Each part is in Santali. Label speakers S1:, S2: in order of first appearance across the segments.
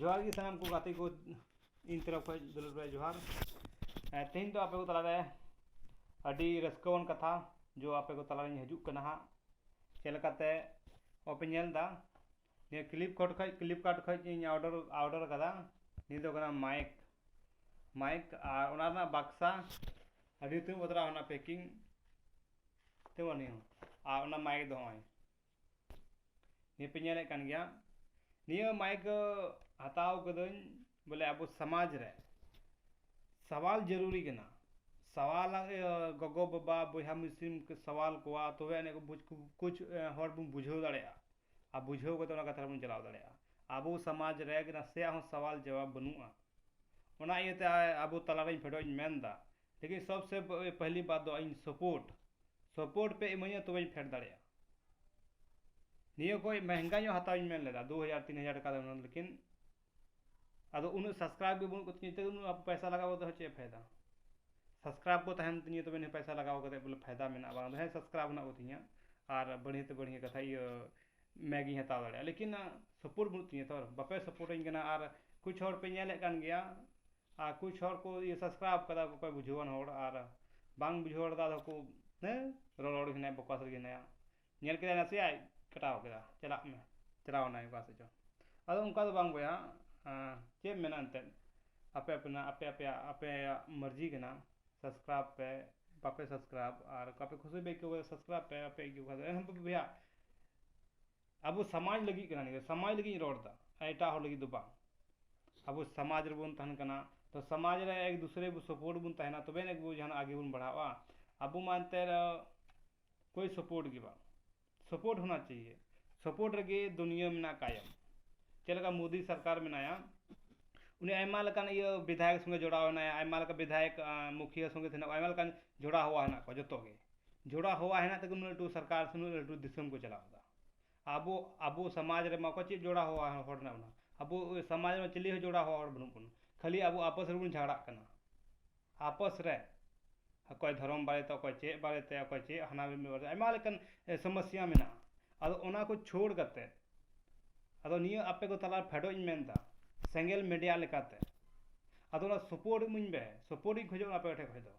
S1: ᱡᱚᱦᱟᱨ ᱜᱮ ᱥᱟᱱᱟᱢ ᱠᱚ ᱜᱟᱛᱮ ᱠᱚ ᱤᱧ ᱛᱚᱨᱚᱯ ᱠᱷᱚᱡ ᱫᱩᱞᱟᱹᱲ ᱵᱷᱟᱭ ᱡᱚᱦᱟᱨ ᱛᱮᱦᱮᱧ ᱫᱚ ᱟᱯᱮ ᱠᱚ ᱛᱟᱞᱟᱨᱮ ᱟᱹᱰᱤ ᱨᱟᱹᱥᱠᱟᱹᱣᱟᱱ ᱠᱟᱛᱷᱟ ᱡᱚ ᱟᱯᱮ ᱠᱚ ᱛᱟᱞᱟᱨᱤᱧ ᱦᱤᱡᱩᱜ ᱠᱟᱱᱟ ᱦᱟᱸᱜ ᱪᱮᱫ ᱞᱮᱠᱟᱛᱮ ᱚᱯᱮ ᱧᱮᱞ ᱮᱫᱟ ᱱᱤᱭᱟᱹ ᱠᱞᱤᱯ ᱠᱚᱴ ᱠᱷᱚᱡ ᱠᱞᱤᱯ ᱠᱟᱨᱴ ᱠᱷᱚᱡ ᱤᱧ ᱚᱰᱟᱨ ᱚᱰᱟᱨ ᱠᱟᱫᱟ ᱱᱤᱭᱟᱹ ᱫᱚ ᱠᱟᱱᱟ ᱢᱟᱭᱤᱠ ᱢᱟᱭᱤᱠ ᱟᱨ ᱚᱱᱟ ᱨᱮᱱᱟᱜ ᱵᱟᱠᱥᱟ ᱟᱹᱰᱤ ᱩᱛᱟᱹᱨ ᱵᱚᱫᱽᱨᱟ ᱚᱱᱟ ᱯᱮᱠᱤᱝ ᱛᱮ ᱵᱟᱹᱱᱩᱜᱼᱟ ᱟᱨ ᱚᱱᱟ ᱢᱟᱭᱤᱠ ᱫᱚ ᱱᱚᱜᱼᱚᱭ ᱱᱤᱭᱟᱹ ᱯᱮ ᱧᱮᱞᱮᱫ ᱠᱟᱱ ᱜᱮᱭᱟ ᱱᱤᱭᱟᱹ ᱢᱟᱭᱤᱠ ᱦᱟᱛᱟᱣ ᱠᱟᱹᱫᱟᱹᱧ ᱵᱚᱞᱮ ᱟᱵᱚ ᱥᱚᱢᱟᱡᱽ ᱨᱮ ᱥᱟᱶᱟᱞ ᱡᱟᱹᱨᱩᱨᱤ ᱠᱟᱱᱟ ᱥᱟᱶᱟᱞ ᱜᱚᱜᱚ ᱵᱟᱵᱟ ᱵᱚᱭᱦᱟ ᱢᱤᱥᱤᱢ ᱠᱚ ᱥᱟᱶᱟᱞ ᱠᱚᱣᱟ ᱛᱚᱵᱮ ᱟᱹᱱᱤᱡ ᱠᱚ ᱵᱩᱡᱽ ᱠᱩᱪ ᱦᱚᱲ ᱵᱚᱱ ᱵᱩᱡᱷᱟᱹᱣ ᱫᱟᱲᱮᱭᱟᱜᱼᱟ ᱟᱨ ᱵᱩᱡᱷᱟᱹᱣ ᱠᱟᱛᱮ ᱚᱱᱟ ᱠᱟᱛᱷᱟ ᱨᱮᱵᱚᱱ ᱪᱟᱞᱟᱣ ᱫᱟᱲᱮᱭᱟᱜᱼᱟ ᱟᱵᱚ ᱥᱚᱢᱟᱡᱽ ᱨᱮ ᱱᱟᱥᱮᱭᱟᱜ ᱦᱚᱸ ᱥᱟᱶᱟᱞ ᱡᱟᱣᱟᱵ ᱵᱟᱹᱱᱩᱜᱼᱟ ᱚᱱᱟ ᱤᱭᱟᱹᱛᱮ ᱟᱵᱚ ᱛᱟᱞᱟ ᱨᱮ ᱯᱷᱮᱰᱚᱜ ᱤᱧ ᱢᱮᱱᱫᱟ ᱞᱮᱠᱤᱱ ᱥᱚᱵ ᱥᱮ ᱯᱟᱦᱞᱤ ᱵᱟᱛ ᱫᱚ ᱤᱧ ᱥᱚᱯᱳᱨᱴ ᱥᱚᱯᱳᱨᱴ ᱯᱮ ᱤᱢᱟᱹᱧᱟ ᱛᱚᱵᱮᱧ ᱯᱷᱮᱰ ᱫᱟᱲᱮᱭᱟᱜᱼᱟ ᱱᱤᱭᱟᱹ ᱠᱷᱚᱡ ᱢᱮᱦᱮᱝᱜᱟ ᱧᱚᱜ ᱦᱟᱛᱟᱣ ᱤᱧ ᱢᱮᱱ ᱞᱮᱫᱟ ᱫᱩ ᱦᱟᱡᱟᱨ ᱛᱤᱱ ᱦᱟᱡᱟᱨ ᱴᱟᱠᱟ ᱨᱮᱱᱟᱜ ᱞᱮᱠᱤᱱ ᱟᱫᱚ ᱩᱱᱟᱹᱜ ᱥᱟᱵᱥᱠᱨᱟᱭᱤᱵᱽ ᱜᱮ ᱵᱟᱹᱱᱩᱜ ᱠᱚ ᱛᱤᱧᱟᱹ ᱱᱤᱛᱚᱜ ᱩᱱᱟᱹᱜ ᱯᱚᱭᱥᱟ ᱞᱟᱜᱟᱣ ᱠᱟᱛᱮ ᱦᱚᱸ ᱪᱮᱫ ᱯᱷᱟᱭᱫᱟ ᱥᱟᱵᱥᱠᱨᱟᱭᱤᱵᱽ ᱠᱚ ᱛᱟᱦᱮᱱ ᱛᱤᱧᱟᱹ ᱛᱚᱵᱮ ᱱᱤᱭᱟᱹ ᱯᱚᱭᱥᱟ ᱞᱟᱜᱟᱣ ᱠᱟᱛᱮ ᱵᱚᱞᱮ ᱯᱷᱟᱭᱫᱟ ᱢᱮᱱᱟᱜᱼᱟ ᱵᱟᱝ ᱫᱚ ᱦᱮᱸ ᱥᱟᱵᱥᱠᱨᱟᱭᱤᱵᱽ ᱢᱮᱱᱟᱜ ᱠᱚᱛᱤᱧᱟ ᱟᱨ ᱵᱟᱹᱲᱦᱤ ᱛᱮ ᱵᱟᱹᱲᱦᱤ ᱠᱟᱛᱷᱟ ᱤᱭᱟᱹ ᱢᱮᱜ ᱤᱧ ᱦᱟᱛᱟᱣ ᱫᱟᱲᱮᱭᱟᱜᱼᱟ ᱞᱮᱠᱤᱱ ᱥᱟᱯᱳᱨᱴ ᱵᱟᱹᱱᱩᱜ ᱛᱤᱧᱟᱹ ᱛᱚ ᱵᱟᱯᱮ ᱥᱟᱯᱳᱨᱴ ᱟᱹᱧ ᱠᱟᱱᱟ ᱟᱨ ᱠᱩᱪ ᱦᱚᱲ ᱯᱮ ᱧᱮᱞᱮᱫ ᱠᱟᱱ ᱜᱮᱭᱟ ᱟᱨ ᱠᱩᱪ ᱦᱚᱲ ᱠᱚ ᱥᱟᱵᱥᱠᱨᱟᱭᱤᱵᱽ ᱠᱟᱫᱟ ᱚᱠᱚᱭ ᱵᱩᱡᱷᱟᱹᱣᱟᱱ ᱦᱚᱲ ᱟᱨ ᱵᱟᱝ ᱵᱩᱡᱷᱟᱹᱣ ᱦᱚᱲ ᱫᱚ ᱟᱫᱚ ᱠᱚ ᱦᱮᱸ ᱨᱚᱲ ᱨᱚᱲ ᱜᱮ ᱦᱮᱱᱟᱭᱟ ᱵᱚᱠᱟᱥ ᱨᱮᱜᱮ ᱦᱮᱱᱟᱭᱟ ᱧᱮᱞ ᱠᱮᱫᱟᱭ ᱱᱟᱥᱮᱭᱟᱜ ᱠᱟᱴᱟᱣ ᱠᱮᱫᱟ ᱪᱟᱞᱟᱜ ᱢᱮ ᱪᱟᱞᱟᱣ ᱮᱱᱟᱭ ᱚᱠᱟ ᱥᱮᱫ ᱪᱚ ᱟᱫᱚ ᱚᱱᱠᱟ ᱫᱚ ᱵᱟᱝ ᱵᱚᱭᱦᱟ ᱪᱮᱫ ᱮᱢ ᱢᱮᱱᱟ ᱮᱱᱛᱮᱫ ᱟᱯᱮ ᱟᱯᱮᱱᱟᱜ ᱟᱯᱮ ᱟᱯᱮᱭᱟᱜ ᱟᱯᱮᱭᱟᱜ ᱢᱟᱹᱨᱡᱤ ᱠᱟᱱᱟ ᱥᱟᱵᱥᱠᱨᱟᱵ ᱯᱮ ᱵᱟᱯᱮ ᱥᱟᱵᱥᱠᱨᱟᱵ ᱟᱨ ᱚᱠᱟ ᱯᱮ ᱠᱷᱩᱥᱤ ᱯᱮ ᱟᱹᱭᱠᱟᱹᱣ ᱠᱟᱫᱟ ᱥᱟᱵᱥᱠᱨᱟᱵ ᱯᱮ ᱵᱟᱯᱮ ᱟᱹᱭᱠᱟᱹᱣ ᱠᱟᱫᱟ ᱮᱱᱦᱚᱸ ᱵᱚᱭᱦᱟ ᱟᱵᱚ ᱥᱚᱢᱟᱡᱽ ᱞᱟᱹᱜᱤᱫ ᱠᱟᱱᱟ ᱱᱤᱭᱟᱹ ᱥᱚᱢᱟᱡᱽ ᱞᱟᱹᱜᱤᱫ ᱤᱧ ᱨᱚᱲ ᱮᱫᱟ ᱟᱨ ᱮᱴᱟᱜ ᱦᱚᱲ ᱞᱟᱹᱜᱤᱫ ᱫᱚ ᱵᱟᱝ ᱟᱵᱚ ᱥᱚᱢᱟᱡᱽ ᱨᱮᱵᱚᱱ ᱛᱟᱦᱮᱱ ᱠᱟᱱᱟ ᱛᱚ ᱥᱚᱢᱟᱡᱽ ᱨᱮ ᱮᱠ ᱫᱩᱥᱨᱮ ᱵᱚ ᱥᱟᱯᱳᱨᱴ ᱵᱚᱱ ᱛᱟᱦᱮᱱᱟ ᱛᱚᱵᱮ ᱟᱹᱱᱤᱡ ᱜᱮᱵᱚ ᱡᱟᱦᱟᱱᱟᱜ ᱟᱜᱮ ᱵᱚᱱ ᱵᱟᱲᱦᱟᱜᱼᱟ ᱟᱵᱚ ᱢᱟ ᱮᱱᱛᱮᱫ ᱠᱳᱭ ᱥᱟᱯᱳᱨᱴ ᱜᱮ ᱵᱟᱝ ᱥᱟᱯᱳᱨᱴ ᱦᱳᱱᱟ ᱪᱟᱭᱭᱮ ᱥᱟᱯᱳᱨᱴ ᱨᱮᱜᱮ ᱫᱩᱱᱤᱭᱟᱹ ᱢᱮᱱᱟᱜ ᱠᱟᱭᱚᱢ ᱪᱮᱫ ᱞᱮᱠᱟ ᱢᱳᱫᱤ ᱥᱚᱨᱠᱟᱨ ᱢᱮᱱᱟᱭᱟ ᱩᱱᱤ ᱟᱭᱢᱟ ᱞᱮᱠᱟᱱ ᱤᱭᱟᱹ ᱵᱤᱫᱷᱟᱭᱚᱠ ᱥᱚᱸᱜᱮ ᱡᱚᱲᱟᱣ ᱦᱮᱱᱟᱭᱟ ᱟᱭᱢᱟ ᱞᱮᱠᱟᱱ ᱵᱤᱫᱷᱟᱭᱚᱠ ᱢᱩᱠᱷᱤᱭᱟᱹ ᱥᱚᱸᱜᱮ ᱛᱮ ᱦᱮᱱᱟᱜ ᱠᱚᱣᱟ ᱟᱭᱢᱟ ᱞᱮᱠᱟᱱ ᱡᱚᱲᱟ ᱦᱚᱣᱟ ᱦᱮᱱᱟᱜ ᱠᱚᱣᱟ ᱡᱚᱛᱚ ᱜᱮ ᱡᱚᱲᱟ ᱦᱚᱣᱟ ᱦᱮᱱᱟᱜ ᱛᱮᱜᱮ ᱩᱱᱟᱹᱜ ᱞᱟᱹᱴᱩ ᱥᱚᱨᱠᱟᱨ ᱥᱮ ᱩᱱᱟᱹᱜ ᱞᱟᱹᱴᱩ ᱫᱤᱥᱚᱢ ᱠᱚ ᱪᱟᱞᱟᱣ ᱮᱫᱟ ᱟᱵᱚ ᱟᱵᱚ ᱥᱚᱢᱟᱡᱽ ᱨᱮᱢᱟ ᱚᱠᱚᱭ ᱪᱮᱫ ᱡᱚᱲᱟ ᱦᱚᱣᱟ ᱦᱚᱲ ᱦᱮᱱᱟᱜ ᱵᱚᱱᱟ ᱟᱵᱚ ᱥᱚᱢᱟᱡᱽ ᱨᱮ ᱪᱤᱞᱤ ᱦᱚᱸ ᱡᱚᱲᱟ ᱦᱚᱣᱟ ᱦᱚᱲ ᱵᱟᱹᱱᱩᱜ ᱵᱚᱱᱟ ᱠᱷᱟᱹᱞᱤ ᱟᱵᱚ ᱟᱯᱚᱥ ᱨᱮᱵᱚᱱ ᱡᱷᱟᱜᱽᱲᱟᱜ ᱠᱟᱱᱟ ᱟᱯᱚᱥ ᱨᱮ ᱚᱠᱚᱭ ᱫᱷᱚᱨᱚᱢ ᱵᱟᱨᱮᱛᱮ ᱚᱠᱚᱭ ᱪᱮᱫ ᱵᱟᱨᱮᱛᱮ ᱚᱠᱚᱭ ᱪᱮᱫ ᱦᱟᱱᱟ ᱱᱤᱭᱟᱹ ᱵᱟᱨᱮᱛᱮ ᱟᱭᱢᱟ ᱞᱮᱠᱟᱱ ᱥᱚᱢᱚᱥᱥᱟ ᱢᱮᱱᱟᱜᱼᱟ ᱟᱫᱚ ᱚᱱᱟ ᱠᱚ ᱪᱷᱟᱹᱲ ᱠᱟᱛᱮ ᱟᱫᱚ ᱱᱤᱭᱟᱹ ᱟᱯᱮ ᱠᱚ ᱛᱟᱞᱟᱨᱮ ᱯᱷᱮᱰᱚᱜ ᱤᱧ ᱢᱮᱱᱫᱟ ᱥᱮᱸᱜᱮᱞ ᱢᱤᱰᱤᱭᱟ ᱞᱮᱠᱟᱛᱮ ᱟᱫᱚ ᱚᱱᱟ ᱥᱚᱯᱳᱨᱴ ᱤᱢᱟᱹᱧ ᱯᱮ ᱥᱚᱯᱳᱨᱴ ᱤᱧ ᱠᱷᱚᱡᱚᱜ ᱠᱟᱱᱟ ᱟᱯᱮ ᱴᱷᱮᱡ ᱠᱷᱚᱡ ᱫᱚ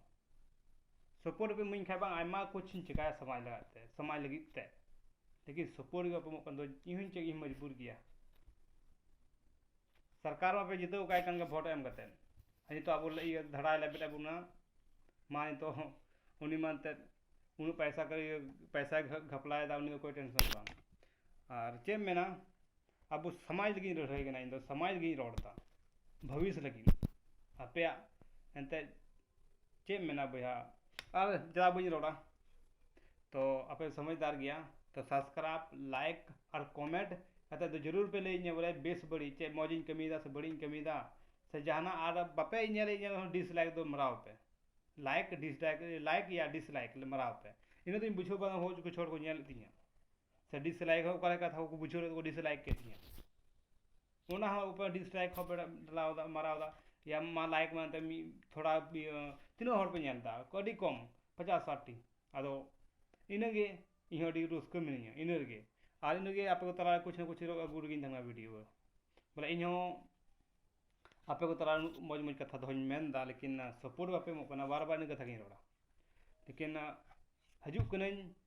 S1: ᱥᱚᱯᱳᱨᱴ ᱯᱮ ᱤᱢᱟᱹᱧ ᱠᱷᱟᱡ ᱵᱟᱝ ᱟᱭᱢᱟ ᱠᱩᱪᱷ ᱤᱧ ᱪᱮᱠᱟᱭᱟ ᱥᱚᱢᱟᱡᱽ ᱞᱟᱹᱜᱤᱫ ᱛᱮ ᱥᱚᱢᱟᱡᱽ ᱞᱟᱹᱜᱤᱫ ᱛᱮ ᱞᱮᱠᱤᱱ ᱥᱚᱯᱳᱨᱴ ᱜᱮ ᱵᱟᱯᱮ ᱮᱢᱚᱜ ᱠᱟᱱ ᱫᱚ ᱤᱧ ᱦᱚᱸᱧ ᱪᱮᱫ ᱤᱧ ᱢᱚᱡᱽᱵᱩᱨ ᱜᱮᱭᱟ ᱥᱚᱨᱠᱟᱨ ᱢᱟᱯᱮ ᱡᱤᱛᱟᱹᱣ ᱠᱟᱭ ᱠᱟᱱ ᱜᱮ ᱵᱷᱳᱴ ᱮᱢ ᱠᱟᱛᱮ ᱱᱤᱛᱚᱜ ᱟᱵᱚ ᱤᱭᱟᱹ ᱫᱷᱟᱲᱟᱭ ᱞᱮᱵᱮᱫ ᱮᱫ ᱵᱚᱱᱟ ᱢᱟ ᱱᱤᱛᱚᱜ ᱦᱚᱸ ᱩᱱᱤ ᱢᱟ ᱮᱱᱛᱮᱫ ᱩᱱᱟᱹᱜ ᱯᱚᱭᱥᱟ ᱠᱚᱭ ᱯᱚᱭᱥᱟᱭ ᱜᱷᱟᱯᱞᱟᱭᱮᱫᱟ ᱩᱱᱤ ᱫᱚ ᱚᱠᱚᱭ ᱴᱮᱱᱥᱚᱱ ᱜᱮ ᱵᱟᱝ ᱟᱨ ᱪᱮᱫ ᱮᱢ ᱢᱮᱱᱟ ᱟᱵᱚ ᱥᱚᱢᱟᱡᱽ ᱞᱟᱹᱜᱤᱫ ᱤᱧ ᱞᱟᱹᱲᱦᱟᱹᱭ ᱠᱟᱱᱟ ᱤᱧ ᱫᱚ ᱥᱚᱢᱟᱡᱽ ᱞᱟᱹᱜᱤᱫ ᱤᱧ ᱨᱚᱲ ᱮᱫᱟ ᱵᱷᱚᱵᱤᱥ ᱞᱟᱹᱜᱤᱫ ᱟᱯᱮᱭᱟᱜ ᱮᱱᱛᱮᱫ ᱪᱮᱫ ᱮᱢ ᱢᱮᱱᱟ ᱵᱚᱭᱦᱟ ᱟᱨ ᱡᱟ ᱵᱟᱹᱧ ᱨᱚᱲᱟ ᱛᱚ ᱟᱯᱮ ᱥᱚᱢᱚᱡᱽᱫᱟᱨ ᱜᱮᱭᱟ ᱛᱚ ᱥᱟᱵᱥᱠᱨᱟᱭᱤᱵ ᱞᱟᱭᱤᱠ ᱟᱨ ᱠᱚᱢᱮᱱᱴ ᱠᱟᱛᱮ ᱫᱚ ᱡᱟᱹᱨᱩᱲ ᱯᱮ ᱞᱟᱹᱭᱟᱹᱧᱟ ᱵᱚᱞᱮ ᱵᱮᱥ ᱵᱟᱹᱲᱤᱡ ᱪᱮᱫ ᱢᱚᱡᱽ ᱤᱧ ᱠᱟᱹᱢᱤᱭᱮᱫᱟ ᱥᱮ ᱵᱟᱹᱲᱤᱡ ᱤᱧ ᱠᱟᱹᱢᱤᱭᱮᱫᱟ ᱥᱮ ᱡᱟᱦᱟᱱᱟᱜ ᱟᱨ ᱵᱟᱯᱮ ᱧᱮᱞᱮᱫ ᱤᱧᱟᱹᱜ ᱨᱮᱦᱚᱸ ᱰᱤᱥᱞᱟᱭᱤᱠ ᱫᱚ ᱢᱟᱨᱟᱣ ᱯᱮ ᱞᱟᱭᱤᱠ ᱰᱤᱥᱞᱟᱭᱤᱠ ᱞᱟᱭᱤᱠ ᱭᱟ ᱰᱤᱥᱞᱟᱭᱤᱠ ᱢᱟᱨᱟᱣ ᱯᱮ ᱤᱱᱟᱹ ᱛᱮᱧ ᱵᱩᱡᱷᱟᱹᱣ ᱵᱟᱲᱟ ᱦᱚᱸ ᱠᱤᱪᱷᱩ ᱦᱚᱲ ᱠᱚ ᱧᱮᱞᱮᱫ ᱛᱤᱧᱟᱹ ᱥᱮ ᱰᱤᱥᱞᱟᱭᱤᱠ ᱦᱚᱸ ᱚᱠᱟ ᱞᱮᱠᱟ ᱠᱟᱛᱷᱟ ᱠᱚᱠᱚ ᱵᱩᱡᱷᱟᱹᱣ ᱞᱮᱫᱟ ᱠᱚ ᱰᱤᱥᱞᱟᱭᱤᱠ ᱠᱮᱫ ᱜᱮᱭᱟ ᱚᱱᱟ ᱦᱚᱸ ᱩᱯᱟᱹᱨ ᱰᱤᱥᱞᱟᱭᱤᱠ ᱦᱚᱸ ᱯᱮ ᱰᱷᱟᱞᱟᱣ ᱮᱫᱟ ᱢᱟᱨᱟᱣ ᱮᱫᱟ ᱭᱟ ᱢᱟ ᱞᱟᱭᱤᱠ ᱢᱮ ᱮᱱᱛᱮᱫ ᱢᱤᱫ ᱛᱷᱚᱲᱟ ᱤᱭᱟᱹ ᱛᱤᱱᱟᱹᱜ ᱦᱚᱲ ᱯᱮ ᱧᱮᱞ ᱮᱫᱟ ᱟᱹᱰᱤ ᱠᱚᱢ ᱯᱚᱪᱟᱥ ᱥᱟᱴ ᱴᱤ ᱟᱫᱚ ᱤᱱᱟᱹ ᱜᱮ ᱤᱧ ᱦᱚᱸ ᱟᱹᱰᱤ ᱨᱟᱹᱥᱠᱟᱹ ᱢᱤᱱᱟᱹᱧᱟ ᱤᱱᱟᱹ ᱨᱮᱜᱮ ᱟᱨ ᱤᱱᱟᱹ ᱜᱮ ᱟᱯᱮ ᱠᱚ ᱛᱟᱞᱟ ᱨᱮ ᱠᱩᱪ ᱱᱟ ᱠᱩᱪ ᱦᱤᱞᱳᱜ ᱟᱹᱜᱩ ᱨᱮᱜᱮᱧ ᱛᱟᱦᱮᱱᱟ ᱵᱷᱤᱰᱤᱭᱳ ᱫᱚ ᱵᱚᱞᱮ ᱤᱧ ᱦᱚᱸ ᱟᱯᱮ ᱠᱚ ᱛᱟᱞᱟ ᱨᱮ ᱩᱱᱟᱹᱜ ᱢᱚᱡᱽ ᱢᱚᱡᱽ ᱠᱟᱛᱷᱟ ᱫᱚᱦᱚᱧ ᱢᱮᱱ ᱮᱫᱟ ᱞᱮᱠᱤᱱ ᱥᱟᱯᱳᱨᱴ ᱵᱟᱯᱮ ᱮᱢᱚᱜ ᱠᱟᱱᱟ ᱵᱟᱨ ᱵᱟᱨ ᱤᱱᱟᱹ ᱠᱟᱛᱷᱟ ᱜᱤᱧ ᱨᱚᱲᱟ ᱞᱮᱠᱤᱱ ᱦᱤᱡᱩᱜ ᱠᱟᱹᱱᱟᱹᱧ